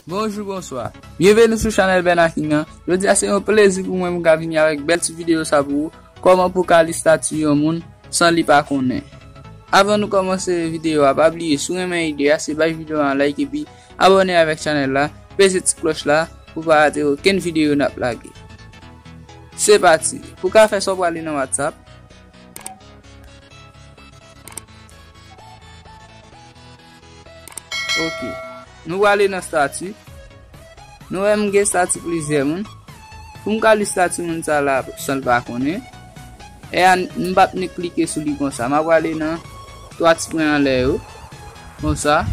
Bonjou bonswa, byenveni sou chanèl Bènaking an, jodi a se yon plezi pou mwen mwen ka vini avèk bèl ti videyo sa pou ou, kòman pou ka li stati yon moun san li pa konnen. Avan nou kòmanse videyo a pa bliye si w renmen ide a se bay videyo an like epi abòne avèk chanèl la, peze ti klòch la pou pa rate okenn videyo n ap lage. Se pati, pou ka fè sa w pral li nan WhatsApp. Ok. Nou wale nan stati. Nou wè m gen stati plizyè moun. Pou m ka li stati moun sa la san l pa konnen. E a m pa p ni klike sou li konsa. M ap wale nan 3 ti pwen anlè yo. Konsa.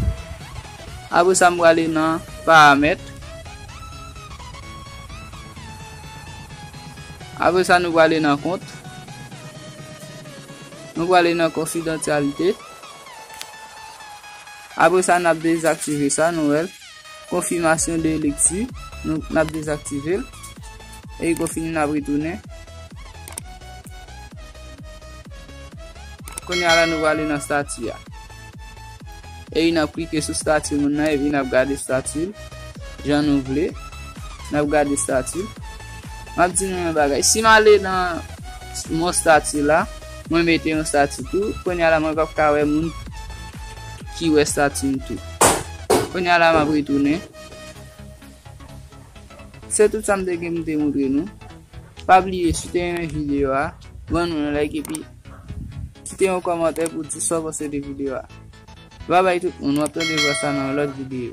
Apre sa m wale nan paramèt. Apre sa, nou prale nan kont. Nou prale nan konfidantyalite. Apre sa, n ap dezaktive sa, nou wè l. Konfimasyon de lekti, nou n ap dezaktive l. E li konfini, n ap retounen. Kounye a la, nou prale nan stati a. Epi nap klike sou stati moun nan epi nap gade stati l jan nou vle. Nap gade stati l. Map di nou yon bagay. Si m ale nan mon stati la, mwen mete yon stati tou. Konya la mwen pap ka wè moun ki wè stati m tou. Konya la map retounen. Se tout sa m te gen pou m te montre nou. Pa bliye si w te renmen video a, ban nou yon like epi. Kite yon kòmantè pou w di sa w panse de videyo a. Bye bye tout moun, wap tande vwa sa nan yon lòt videyo.